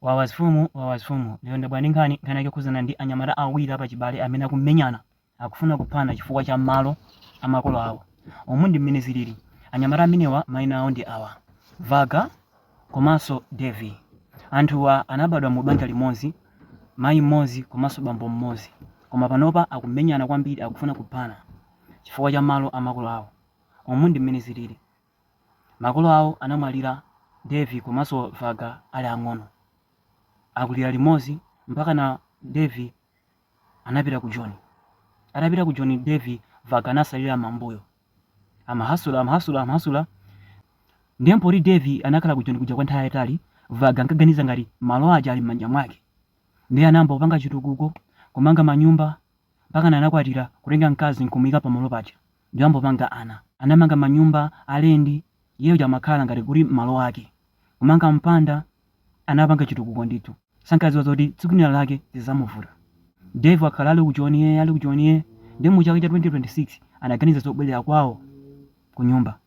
Wawa mfumu wawa mfumu lero ndabwera ndi nkhani, nkhani yake yokhudzana ndi anyamata awiri apachibale amene akumenyana, akufuna kuphana chifukwa cha malo a makolo awo. Umu ndi mmene zilili. Anyamata amenewa mayina awo ndi awa, Vaga komanso Dave. Anthuwa anabadwa mu banja limodzi, mayi mmodzi komanso bambo mmodzi. Koma panopa akumenyana kwambiri, akufuna kuphana chifukwa cha malo a makolo awo. Umu ndi mmene zilili. Makolo awo anamwalira Dave komanso Vaga ali ang'ono. Akulira limodzi mpakana Dave anapita ku Joni. Atapita ku Joni Dave, Vaga anasalira m'mbuyo. Amahasula, amahasula, amahasula. Ndiye poti Dave anakhala ku Joni kuja kwa nthawi yayitali, Vagga ankaganiza ngati malo aja ali m'manja mwake. Ndiye anayamba kupanga chitukuko, kumanga manyumba mpakana anakwatira, kutenga mkazi n'kumuyika pamalo paja. n'kuyambano kupanga ana. Anamanga manyumba alendi, iye uja amakhala ngati kuti ndi malo ake. Kumanga mpanda anapanga chitukuko ndithu. Sankadziwa zoti tsiku lina lake zizamuvuta. Dave akhala ali ku joni yee ali ku joni yee nde mu chaka cha 2026 anaganiza zobwelera kwawo kunyumba.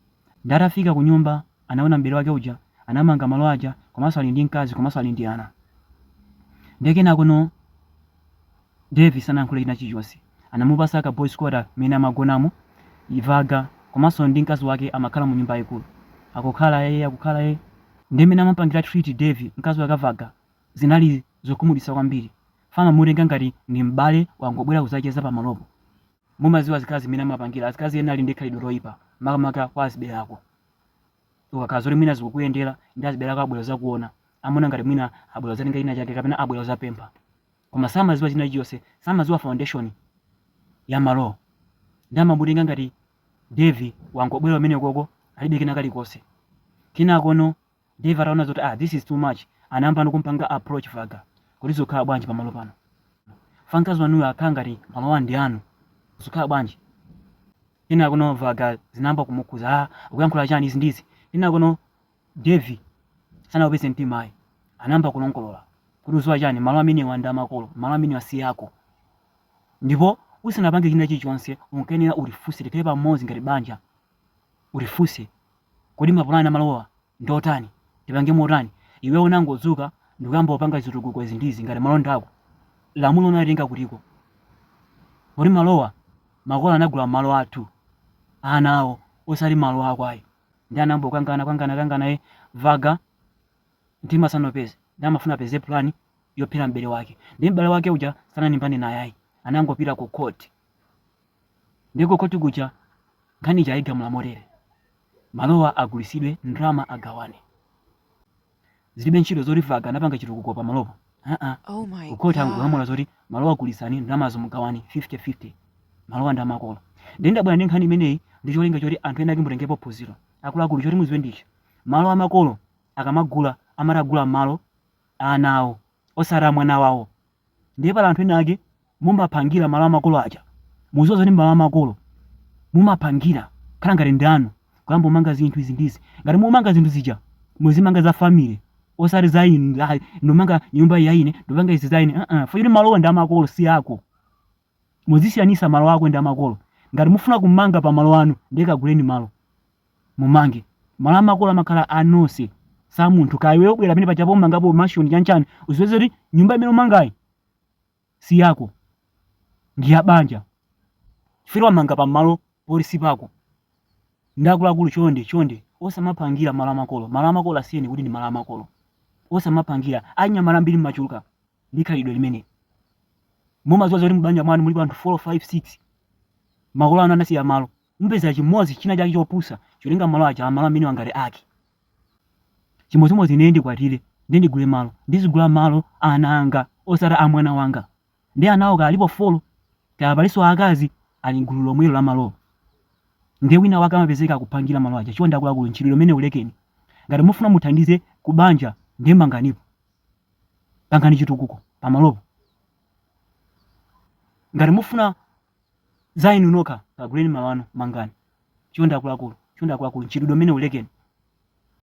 Nde atafika kunyumba anaona m'bale wake uja anamanga malo aja komanso ali ndi mkazi komanso ali ndi ana ndiye kenakono Dave sanayankhule china chilichonse anamupasa ka boys quarter mene amagonamo iye Vaga komanso ndi mkazi wake amakhala mu nyumba yayikulu akukhala yeye akukhala yeye ndiye mene amapangira treat Dave mkazi wake Vaga zinali zokhumudwitsa kwambiri amamutenga ngati ndi m'bale wangobwera kuzacheza pamalopo mumaziwa azikazi mene amapangira azikazi ena ali ndi khalidwe loyipa makamaka kwa azibale ako ukakhala zoti mwina zikukuyendera ndiye azibale ako abwera kuzakuona amaona ngati mwina abwera kuzatenga china chake kapena abwera kuzapempha koma samaziwa china chilichonse samaziwa foundation ya malowo ndiye amamutenga ngati Dave wangobwera umene koko alibe kena kalikonse kenakono Dave ataona zoti ah this is too much anayambano kumpanga approach Vaga kuti zikukhala bwanji pamalo pano. Mkazi wanuyo akukhala ngati malowa ndi anu. Zikukhala bwanji? Kenakono Vaga zinayamba kumukhuza ah ukuyankhula chani izi ndizi. Kenakono Dave sanawupeze mtima ayi. Anayamba kulongolola kuti ukuziwa chani malo amenewa ndi amakolo malo amenewa si ako. Ndipo usanapange china chilichonse unkayenera undifunse tikhale pamodzi ngati banja undifunse Kodi mapulani a malowa ndi otani? Tipange motani? Iweyo unangodzuka ndikuyamba kupanga zitukuko izi ndi izi ngati malowa ndi ako? Lamulo unalitenga kutiko? Poti malowa ndi a makolo anagula malo athu ana awo osati malo ako ayi. Ndiye anayamba kukangana kangana kangana iye Vaga mtima sanaupeze ndiye amafuna apeze pulani yophera m'bale wake. Ndiye m'bale wake uja sanalimbane naye ayi anangopita ku court. Ndiye ku khoti kuja nkhani ija ayigamula motere kuti, malowa agulitsidwe, ndalama agawane. Zilibe ntchito zoti Flaga anapanga chitukuko pamalopo. Aa, ku khoti angogamula zoti malowa agulitsani, ndalamazo mugawane 50-50. Malowa ndi amakolo. Ndiye ndabwera ndi nkhani imeneyi ndi cholinga choti anthu ena ake mutengepo phunziro. Akuluakulu choti mudziwe ndi ichi, malo amakolo akamagula amati agula malo a ana awo. osati a mwana wawo ndiye pali anthu ena ake mumapangira malo amakolo aja mukudziwa zoti malo amakolo mumapangira kukhala ngati ndi anu kuyamba kumanga zinthu izi ndizi ngati mumanga zinthu zija muzimanga za family osati za inu ayi, ndimanga nyumba ya ine ndimanga izi za ine uh -uh. chifukwa malowa ndi amakolo si ako Muzisiyanisa malo ako ndi amakolo. Ngati mufuna kumanga pa malo anu ndiye kaguleni malo mumange. Malo amakolo amakhala a nonse si amunthu kaya iweyo ubwera pamene paja kumangapo mansion chani chani udziwe kuti nyumba imene umangayi si yako ndi ya banja chifukwa wamanga pa malo poti si pako. Ndiye akuluakulu chonde chonde osamapangira malo amakolo. Malo amakolo asiyeni kuti ndi malo amakolo. Osamapangira. Achinyamata ambiri mmachuluka. ndi khalidwe limeneli mumadziwa zoti m'banja mwanu mulipo anthu 4 5 6 makolo anu anasiya malo mupeza chimunthu china chake chopusa chatenga malo aja amalo amene aja ngati ake chimodzimodzi ine ndikwatire ndi ndigule malo ndizigula malo a ana anga osati a mwana wanga ndiye anawo kaya alipo folo kaya palinso akazi ali mgulu lomwelo la malowo ndiye wina wake amapezeka akupangira malo aja chonde akuluakulu mchitidwe umenewu lekeni ngati mufuna muthandize kubanja ndiye manganipo Pangani chitukuko pamalopo. Ngati mufuna za inu nokha, kaguleni malo anu, mangani. Chonde akuluakulu, chonde akuluakulu, mchitidwe umenewu lekeni.